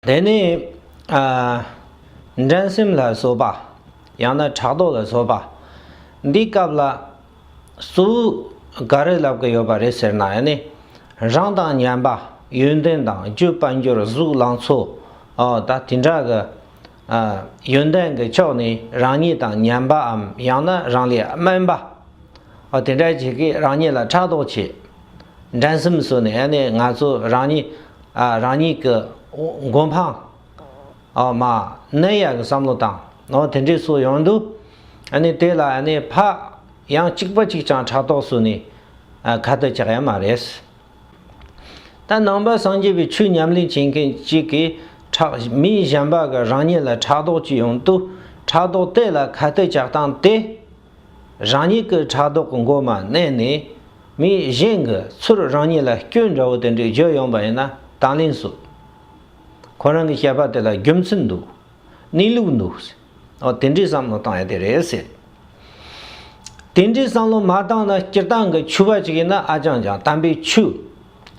དེ་ནི། འགྲན་སེམས་ལ་བཟོ་པ། ཡང་ན་ཕྲག་དོག་ལ་བཟོ་པ། འདིའི་སྐབས་ལ། སུ། ག་རེ་ལབ་ཀི་ཡོད་པ་རེད་ཟེར་ན་ནི། རང་དང་མཉམ་པ། ཡོན་ཏན་དང་རྒྱུ་དཔལ་འབྱོར་གཟུགས་ལང་ཚོ། ཨོ། ད་དེ་འདྲ་གི། ཡོན་ཏན་གི་ཕྱོགས་ནི་རང་ཉིད་དང་མཉམ་པའམ་ཡང་ན་རང་ལས་དམན་པ། ཨོ་དེ་འདྲ་བྱེད་ཀི་རང་ཉིད་ལ་ཕྲག་དོག་བྱེད། འགྲན་སེམས་བཟོས་ནས་ཡང་ནས་ང་ཚོ་རང་ཉིད་རང་ཉིད་ཀྱི་མགོ་འཕང་མ་གནོན་ཡག་གི་བསམ་བློ་དང་དེ་འདྲས་སོགས་ཡོང་དུས་ཡང་ནས་དེ་ལ་ཡང་ནས་ཕ་ཡང་གཅིག་པ་གཅིག་ཀྱང་ཕྲག་དོག་བཟོས་ནས་ཁ་བརྡ་བཅག་ཡ་མ་རེད། ད་ནང་པ་སངས་རྒྱས་པའི་ཆོས་ཉམས་ལེན་བྱེད་མཁན་གཅིག་གིས་ཕྲག་མི་གཞན་པ་གི་རང་ཉིད་ལ་ཕྲག་དོག་ཅིག་ཡོང་དུས་ཕྲག་དོག་དེ་ལ་ཁ་བརྡ་བཅག་སྟངས་དེ། རང་ཉིད་ཀྱི་ཕྲག་དོག་གི་མགོ་མ་མནན་ནས། མི་གཞན་གྱི་ཚུར་རང་ཉིད་ལ་སྐྱོན་འདྲ་བོ་དེ་འདྲས་བརྗོད་ཡོང་པ་ཡིན་ན་དང་ལེན་བཟོ། ཁོ་རང་གི་བཤད་པ་དེ་ལ་རྒྱུ་མཚན་འདུག་གནས་ལུགས་འདུག་ཟེར། དེ་འདྲའི་བསམ་བློ་བཏང་ཡ་དེ་རེད་ཟེར། དེ་འདྲའི་བསམ་བློ་མ་བཏང་ན་སྤྱིར་བཏང་གི་ཆོས་པ་ཅིག་ཡིན་ན་ཨ་ཅང་ཅང་དམ་པའི་ཆོས།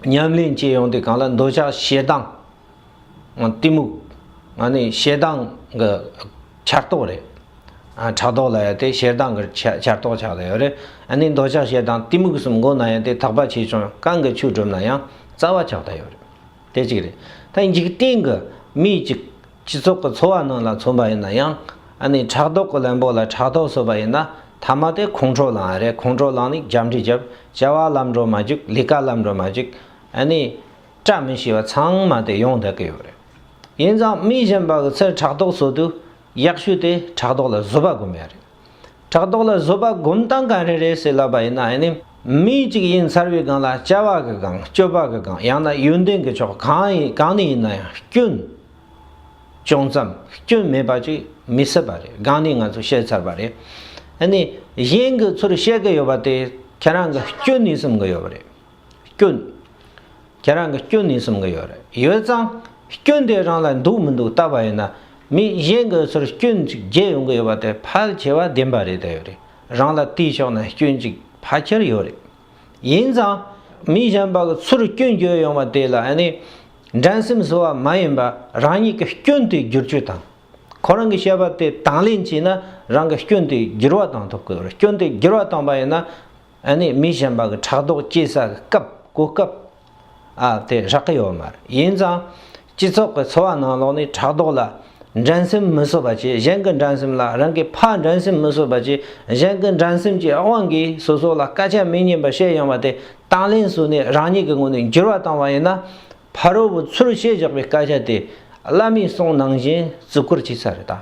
ཉམས་ལེན་བྱེད་ཡོང་དུས་གང་ལ་འདོད་ཆགས་ཞེ་སྡང། གཏི་མུག་ང་ནི་ཞེ་སྡང་གི་ཆར་གཏོགས་རེད། ཕྲག་དོག་ལ་ཡང་དེ་ཞེ་སྡང་གི་ཆར་གཏོགས་ཆགས་ལ་ཡོད་རེད། ཨ་ནི་འདོད་ཆགས་ཞེ་སྡང་གཏི་མུག་གསུམ་མགོ་ན་ཡང་དེ་དག་པ་ཆེ་ཆུང་རྐང་གི་ཆུ་གྲུམ་ན་ཡང་རྩ་བ་ཆགས་ལྟ་ཡོད་རེད། དེ་གཅིག་རེད། ད་འཇིག་རྟེན་གྱི་མི་གཅིག་སྤྱི་ཚོགས་ཀྱི་འཚོ་བ་རྣམས་ལ་མཚོན་པ་ཡིན་ན་ཡང་ཨ་ནི་ཕྲག་དོག་གི་ལན་པོ་ལ་ཕྲག་དོག་བཟོས་པ་ཡིན་ན་ཐ་མ་དེ་ཁོང་ཁྲོ་ལངས་རེད་ཁོང་ཁྲོ་ལངས་ནས་རྒྱབ་འདྲི་རྒྱབ་བྱ་བ་ལམ་འགྲོ་མ་བཅུག་ལས་ཀ་ལམ་འགྲོ་མ་བཅུག་ཨ་ནི། བཀྲ་མི་ཤིས་པ་ཚང་མ་དེ་ཡོངས་བསྒྲགས་ཀྱི་ཡོད་རེད། ཡིན་ཙང་མི་གཞན་པ་གི་ཚེ་ཕྲག་དོག་བཟོ་དུས་གཡག་ཤུ་དེ་ཕྲག་དོག་ལ་བཟོད་པ་སྒོམ་ཡ་རེད། ཕྲག་དོག་ལ་བཟོད་པ་སྒོམ་སྟངས་ག་རེ་རེད་ཟེར་ལབ་པ་ཡིན་ན་ཡིན་ནི་མི་གཅིག་ཡིན་ཚར་བའི་སྒང་ལ་བྱ་བ་གི་སྒང་སྤྱོད་པ་གི་སྒང་ཡང་ན་ཡོན་ཏན་གྱི་ཕྱོགས་གང་ནས་ཡིན་ན་ཡང་སྐྱོན་ཅུང་ཙམ་སྐྱོན་མེད་པ་ཅིག་མི་སྲིད་པ་རེད་སྒང་ནས་ང་ཚོས་བཤད་ཚར་བ་རེད། ཡིན་ནི་གཞན་གྱི་ཚུར་བཤད་གི་ཡོད་པ་དེ་ཁྱེད་རང་གི་སྐྱོན་ནས་སེམས་གི་ཡོད་རེད། སྐྱོན། ཁྱེད་རང་གི་སྐྱོན་ནི་གསུམ་ག་ཡོད་རེད་ཡོད་ཙང། སྐྱོན་དེ་རང་ལ་འདུག་མི་འདུག་བལྟ་བ་ཡིན་ན། མི་གཞན་གྱི་ཚུར་སྐྱོན་གཅིག་བརྗེ་ཡོང་གི་ཡོད་པ་དེ་ཕལ་ཆེ་བ་བདེན་པ་རེད་དེ་རང་ལ་བལྟས་ཆོག་ན་སྐྱོན་གཅིག་ཕལ་ཆེར་ཡོད་རེད། ཡིན་ཙང། མི་གཞན་པ་གི་ཚུར་སྐྱོན་བརྗོད་ཡོང་བ་དེ་ལ་ནི། འགྲན་སེམས་བཟོ་བ་མ་ཡིན་པར་རང་ཉིད་ཀྱི་སྐྱོན་དེ་བསྒྱུར་བཅོས་དང། ཁོ་རང་གི་བཤད་པ་དེ་དང་ལེན་བྱས་ན་རང་གི་སྐྱོན་དེ་བསྒྱུར་བ་གཏང་ཐུབ་ཀྱི་རེད་སྐྱོན་དེ་བསྒྱུར་བ་བཏང་པ་ཡིན་ན། ཨ་ནེ་མི་གཞན་པ་གི་ཕྲག་དོག་སྐྱེ་ས་གི་སྐབས་གོ་སྐབས་ཨ་དེ་རག་གི་ཡོད་མ་རེད་ཡིན་ཙང་སྤྱི་ཚོགས་གི་འཚོ་བ་ནང་ལོག་ནས་ཕྲག་དོག་ལ་འགྲན་སེམས་མི་བཟོ་བ་བྱེད་གཞན་གི་འགྲན་སེམས་ལ་རང་གི་ཕ་འགྲན་སེམས་མི་བཟོ་བ་བྱེད་གཞན་གི་འགྲན་སེམས་ཀྱི་དབང་གིས་སོ་སོ་ལ་སྐད་ཆ་མི་སྙན་པ་བཤད་ཡོང་བ་དེ་དང་ལེན་བཟོས་ནས་རང་ཉིད་ཀྱི་ངོ་ནས་འགྱུར་བ་བཏང་བ་ཡིན་ན། ཕ་རོལ་པོ་ཚུར་ཤེས་བཞག་པའི་བཀའ་རྒྱ་དེ་བླ་མའི་གསུང་ནང་བཞིན་བརྩི་བཀུར་བྱས་ས་རེད་ད།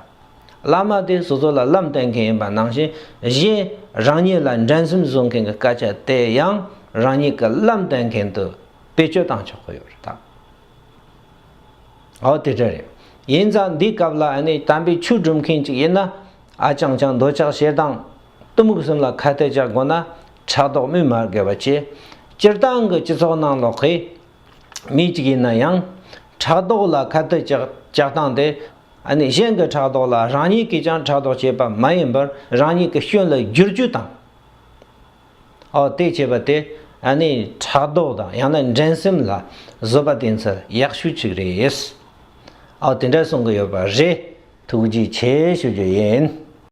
བླ་མ་དེ་སོ་སོ་ལ་ལམ་བསྟན་མཁན་ཡིན་པ་ནང་བཞིན་གཞན་རང་ཉིད་ལ་འགྲན་སེམས་བཟོ་མཁན་གྱི་བཀའ་རྒྱ་དེ་ཡང་རང་ཉིད་ཀྱི་ལམ་བསྟན་མཁན་དུ་བེད་སྤྱོད་བཏང་ཆོག་གི་ཡོད་རེད་ད། འོ་དེ་འདྲ་རེད། ཡིན་ཙང་འདིའི་སྐབས་ལ་ཨ་ནི་དམ་པའི་ཆོས་སྒྲུབ་མཁན་གཅིག་ཡིན་ན་ཨ་ཅང་ཅང་འདོད་ཆགས་ཞེ་སྡང་གཏི་མུག་གསུམ་ལ་ཁ་གཏད་གཅག་དགོས་ན་ཕྲག་དོག་དམོད་མ་དགོས་པ་བྱེད། སྤྱིར་བཏང་གི་སྤྱི་ཚོགས་ནང་ལོགས་ཀྱི་མི་གཅིག་ཡིན་ན་ཡང་ཕྲག་དོག་ལ་ཁ་གཏད་གཅག་སྟངས་དེ། གཞན་གྱི་ཕྲག་དོག་ལ་རང་ཉིད་ཀྱིས་ཀྱང་ཕྲག་དོག་བྱེད་པ་མ་ཡིན་པར་རང་ཉིད་ཀྱི་སྐྱོན་ལ་བསྒྱུར་རྒྱུ་དང། འོ་དེ་བྱེད་པ་དེ་ཕྲག་དོག་དང་ཡང་ན་འགྲན་སེམས་ལ་བཟོད་པ་བསྟེན་ཚད་ཡག་ཤོས་གཅིག་རེད། དེ་འདྲ་གསུང་གི་ཡོད་པ་རེད་ཐུགས་རྗེ་ཆེ་ཞུ་རྒྱུ་ཡིན།